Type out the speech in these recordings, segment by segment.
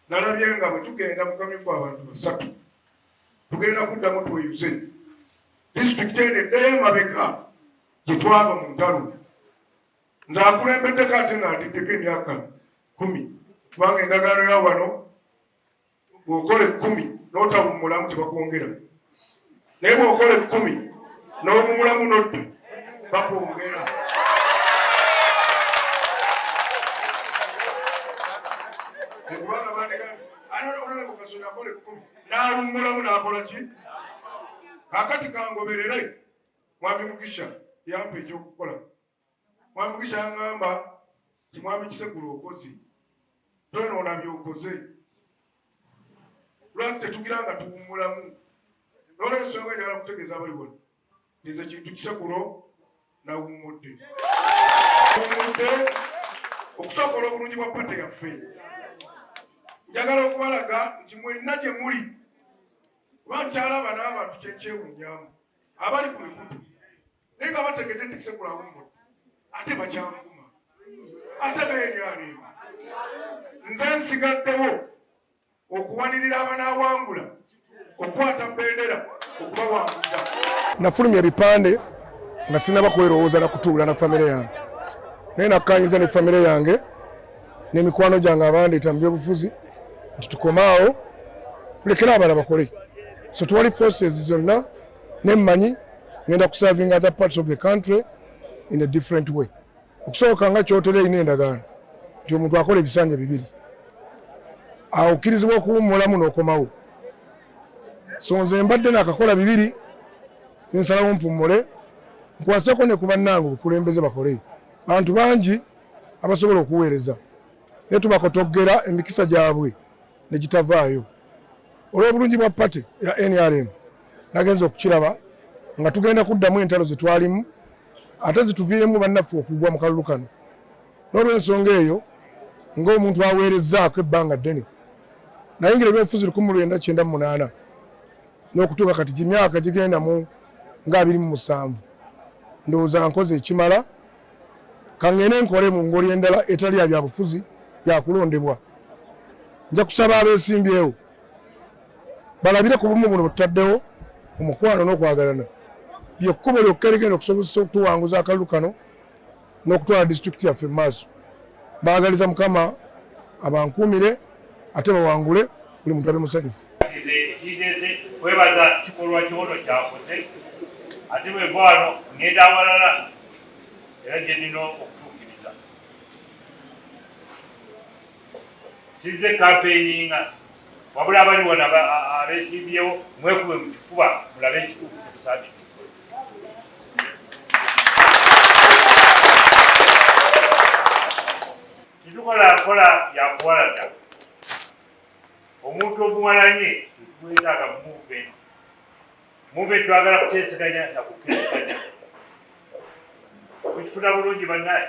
nalabye nga bwe tugenda mukamyufu abantu basatu tugenda kuddamu tweyuze disitulikiti eno eddayo emabeka gye twava mu ntalo nze akulembeddeko ate nga ndiddeko emyaka kumi kubanga endagaano ya wano bw'okola ekkumi n'otawummulamu tebakwongera naye bwokola ekkumi n'obumulamu nodda bakwongera n'alummulamu n'akola ki kakati kangoberere mwami mugisha yampa ekyokukola mwami kukyangamba timwami kisegula okozi tonoona byokoze lwaki tetugira nga tuwumulamu nolwensonga njagala kutegeeza abali wano nze kintu kisekulo nawummudde umudde okusobola obulungi bwa pate yaffe njagala okubalaga nti mwenna gye muli kuba nkyalaba n'abantu kyekyewunyamu abali ku mikutu naye nga bategedde nti sekulawumbo ate bakyanvuma ate naye lyaliima nze nsigaddewo okuwanirira abanaawangula okukwata bendera okubawangulira nafulumya ebipande nga sinaba kwerowooza na kutuula na famire yange naye nakkanyiza ne famire yange n'emikwano gyange abandeeta mu byobufuzi nti tukomaawo tulekere abala bakole so twali forces zonna ne mmanyi ngenda kusavinga other parts of the country in a different way okusooka nga kyotera erina endagaano nti omuntu akola ebisanja bibiri awukkirizibwa okuwummulamu n'okomawo so nze mbadde nakakola bibiri nensalawo mpummule nkwaseko ne ku bannange obukulembeze bakole bantu bangi abasobola okuweereza naye tubakotoggera emikisa gyabwe ne gitavaayo olw'obulungi bwa pate ya nrm nagenza okukiraba nga tugenda kuddamu entalo ze twalimu ate zituviiremu bannaffe okugwa mu kalulu kano n'olwensonga eyo ng'omuntu aweerezzaako ebbanga ddene nayingira ebyobufuzi lukumi lwenda kyenda mu munaana n'okutuuka kati gimyaka gigenda mu ng'abiri mu musanvu ndowooza nkoze ekimala kangende nkole mu ngoli endala etali ya byabufuzi yakulondebwa nja kusaba abesimbyewo balabire ku bumu buno bututaddewo omukwano n'okwagalana lyekkubo lyokka erigenda okusobozesa okutuwanguza akalulu kano n'okutwala disitulikiti yaffe mu maaso baagaliza mukama abankuumire ate bawangule buli muntu abe musanyufu kwebaza kikolwa kyono kyakoze ate bweva wano ngenda awalala era gye nnina okutuukiriza sizze kampeyiniinga wabula abali wano abesimbyewo mwekube mu kifuba mulabe ekituufu kyetusabi kitukola nkola yakuwalada omuntu omuwalanye twetaaga muvumenti mube twagala kuteeseganya na kukkiriziganya mukifuna bulungi bannaye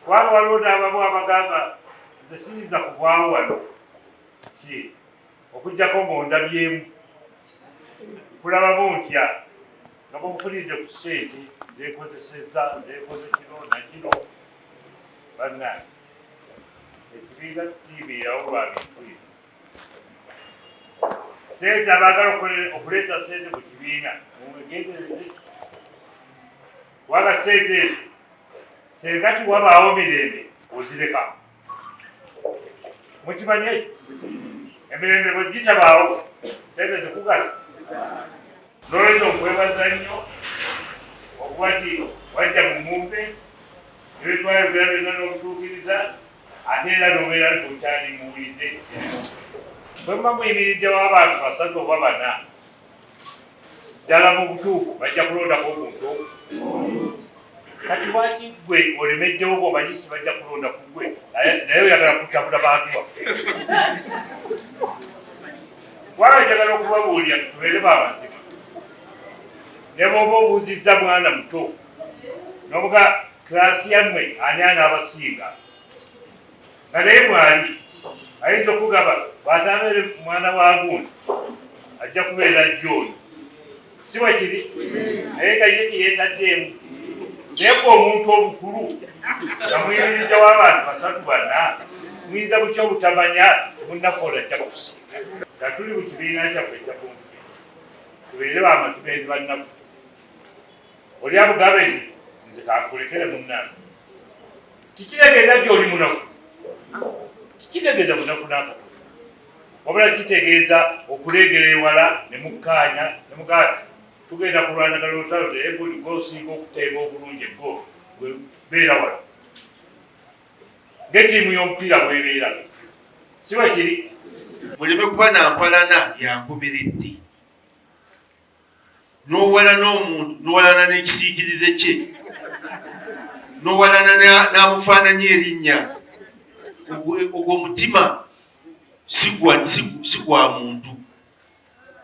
kubanga waliwo n'abamu abagamba nze siyinza kuvaawo wano ki okujjako ng'ondabyemu kulabamu ntya nga mubufunidde ku sente nzekozeseza nzekoze kino nakino bannaye ekibiina kitiibiirawo lwabintu bino sente abaagala okuleeta sente mu kibiina mumwegendereze kubanga sente ezo senga tiwabaawo mirembe ozireka mukimanye ekyo emirembe bwe gitabaawo sente zikugaza nolwekyo okwebaza nnyo okuba ti wajja mu mumbe ebitwayogera byonna n'obutuukiriza ate era nobeera likukyali muwulize bwe muba muyimiridde w'abantu basatu oba bana ddala mu butuufu bajja kulondako omuntu kati lwaki gwe olemeddewo gwomanyi si bajja kulonda ku gwe naye oyagala kutabula bantu baffe waba njagala okubabuulira tubeere bamazima ne bwoba obuuzizza mwana muto nobuga klaasi yammwe ani anaabasinga nga naye mwali ayinza okugaba bwatabeere mwana wa gundi ajja kubeera jjooyo si wakiri naye nga ye teyetaddeemu naye ku omuntu obukulu nga muyimirijja w'abantu basatu banna muyinza butya obutamanya munnakola ajja kutusinga nga tuli mu kibiina kyaffe ekyakunfuli tubeere bamazima eri bannaffe oli amugambe nti nze kankulekere munnange kikitegeeza nti oli munafu kikitegeeza munafu nakatono wabula kitegeeza okuleegera ewala ne mukkaanya ne mugaa tugenda kulwanagala olutalo naye buli gwosinga okuteeba obulungi eggo beera wala ngetiimu y'omupiira bwebeera siba kiri muleme kuba nampalana yankumiriddi nowala n'omuntu nowalana n'ekisiikirize kye nowalana n'amufaananyi erinnya ogwo mutima si gwa muntu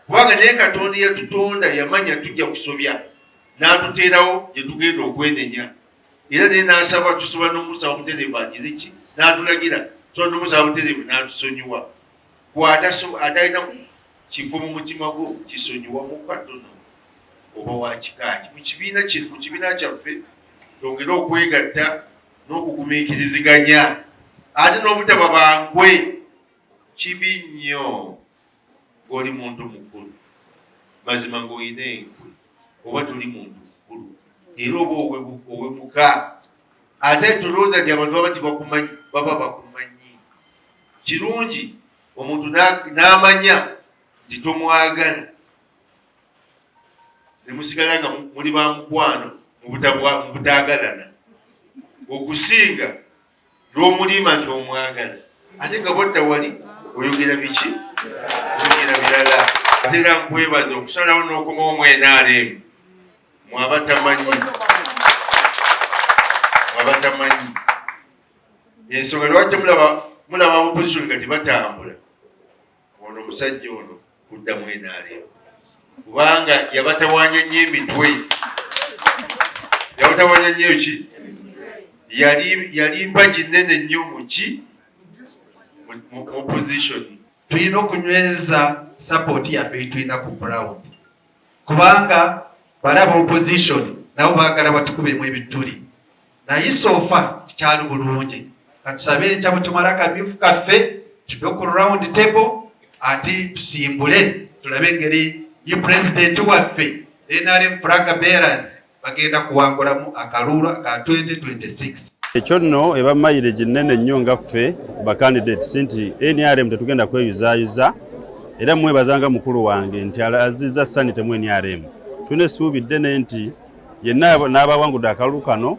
kubanga naye katonda yatutonda yamanya tujja kusobya n'atuteerawo gye tugenda okwenenya era naye n'asaba tusoba n'omusaba butereevu agire ki n'atulagira tusoba n'omusaba butereevu n'atusonyiwa gwatalina Kiva mu mutima gwo kisonyiwa mukka tono oba wa kikaaki mu kibiina kye mu kibiina kyaffe tongere okwegatta n'okugumiikiriziganya ate n'obutaba bankwe kibi nnyo ng'oli muntu mukulu mazima ng'olina enkwe oba toli muntu mukulu era oba owemuka ate tolowooza nti abantu baba tibakumanyi baba bakumanyi kirungi omuntu n'amanya nti tomwagala ne musigala nga muli ba mukwano mu butaagalana okusinga n'omuliima nti omwagala ate nga bwadda wali oyogera biki oyogera birala ate era nkwebaza okusalawo n'okoma omwenaalemu mwabatamanyi mwabatamanyi ensonga lwaki mulaba mulaba opposition kati batambula ono omusajja ono kudda mu nrm kubanga yabatawanya nyo emitwe yabatawanya nyo ki yali mpagi nene nnyo muki mu opposition tulina okunyweza sapoti yaffe yitulina ku ground kubanga balaba opposition nabo bagala batukubemu ebituli naye sofa kikyali bulungi katusabe enkya bwetumala akabifu kaffe kive ku round table ati tusimbule tulabe engeri ye pulezidenti waffe nrm flag bearers bagenda kuwangulamu akaluulu aka 2026 ekyo nno eba mayire ginnene nnyo nga ffe bacandidates nti nrm tetugenda kweyuzayuza era mwebazanga mukulu wange nti azizza sanitemu nrm tulina essuubi ddene nti yenna n'abawangudde akalulu kano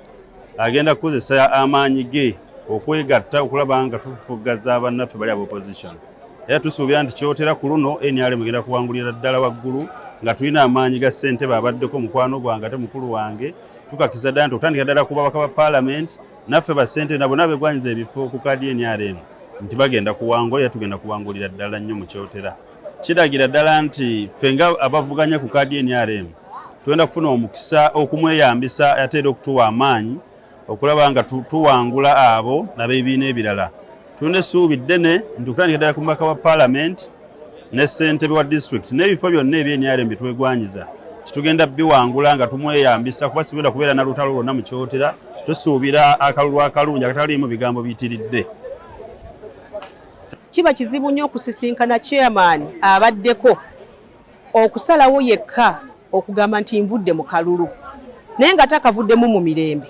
agenda kukozesa amaanyi ge okwegatta okulaba nga tufufuggaza bannaffe bali aba opposition era tusuubira nti kyotera ku luno nrm egenda kuwangulira ddala waggulu nga tulina amaanyi ga ssentebe abaddeko mukwano gwange ate mukulu wange tukakiza ddala nti okutandika ddala ku babaka ba paalamenti naffe bassentebe nabona begwanyiza ebifo ku kaadi nrm nti bagenda kuwangula era tugenda kuwangulira ddala nnyo mu kyotera kiragira ddala nti ffe nga abavuganya ku kaadi nrm tugenda kufuna omukisa okumweyambisa ate era okutuwa amaanyi okulaba nga tuwangula abo nabebiina ebirala tulina essuubi ddene nti okutandika ddala ku mubaka wa paalamenti ne ssentebe wa disitulikiti n'ebifo byonna ebyenrm bye twegwanyiza titugenda biwangula nga tumweyambisa kuba sigenda kubeera na lutalo lwonna mu kyotera tusuubira akalulu akalungi akataliimu bigambo biyitiridde Kiba kizibu nnyo okusisinkana chairman abaddeko okusalawo yekka okugamba nti nvudde mu kalulu naye nga takavuddemu mu mirembe.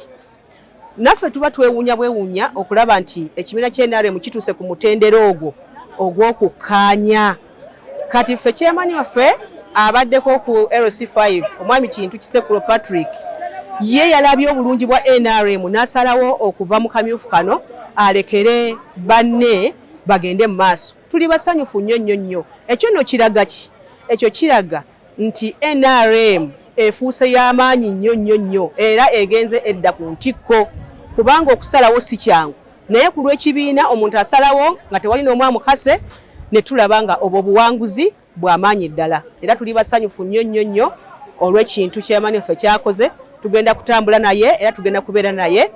Naffe tuba twewuunya bwewuunya okulaba nti ekibiina kya NRM kituuse ku mutendera ogwo ogw'okukkaanya. kati ffe kyemanyi waffe abaddeko ku lc5 omwami kintu kisekulo patrick ye yalabye obulungi bwa nrm n'asalawo okuva mu kamyufu kano alekere banne bagende mu maaso tuli basanyufu nnyo nnyo nnyo ekyo nno kiraga ki ekyo kiraga nti nrm efuuse y'amaanyi nnyo nnyo nnyo era egenze edda ku ntikko kubanga okusalawo si kyangu naye ku lw'ekibiina omuntu asalawo nga tewali n'omu amukase ne tulaba nga obwo obuwanguzi bw'amaanyi ddala era tuli basanyufu nnyo nnyo nnyo olw'ekintu chairman ffe kyakoze tugenda kutambula naye era tugenda kubeera naye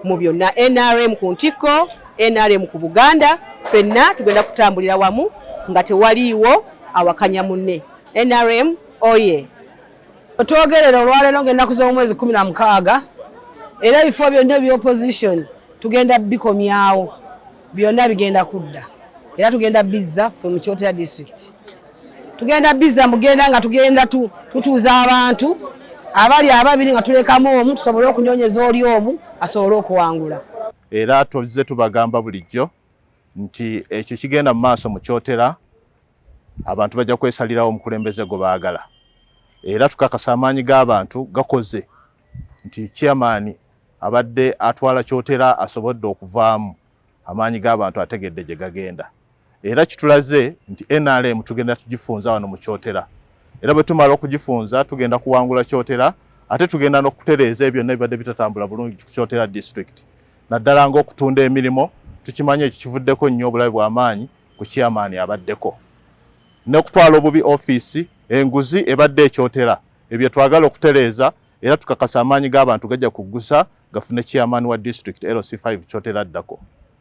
mu byonna nrm ku ntikko nrm ku buganda fenna tugenda kutambulira wamu nga tewaliiwo awakanya munne nrm oye Otwogerera olwaleero ng'ennaku z'omwezi kumi na mukaaga era ebifo byonna ebya opposition tugenda bikomyawo byonna bigenda kudda era tugenda bizza ffe mu Kyotera district tugenda bizza mugenda nga tugenda tutuuza abantu abali ababiri nga tulekamu omu tusobole okunyonyeza oli omu asobole okuwangula era tuzze tubagamba bulijjo nti ekyo kigenda mu maaso mu kyotera abantu bajja kwesalirawo omukulembeze gwe baagala era tukakasa amaanyi g'abantu gakoze nti chairman abadde atwala kyotera asobodde okuvaamu amaanyi g'abantu ategedde gye gagenda era kitulaze nti nrm tugenda tugifunza wano mu kyotera era bwe tumala okugifunza tugenda kuwangula kyotera ate tugenda n'okutereeza ebyo byonna ebibadde bitatambula bulungi ku kyotera district naddala ng'okutunda emirimu tukimanyi ekyo kivuddeko nnyo obulabe bw'amaanyi ku chairman abaddeko n'okutwala obubi ofiisi enguzi ebadde ekyotera ebyo twagala okutereeza era tukakasa amaanyi g'abantu gajja kuggusa gafune chairman wa district lc5 kyotera addako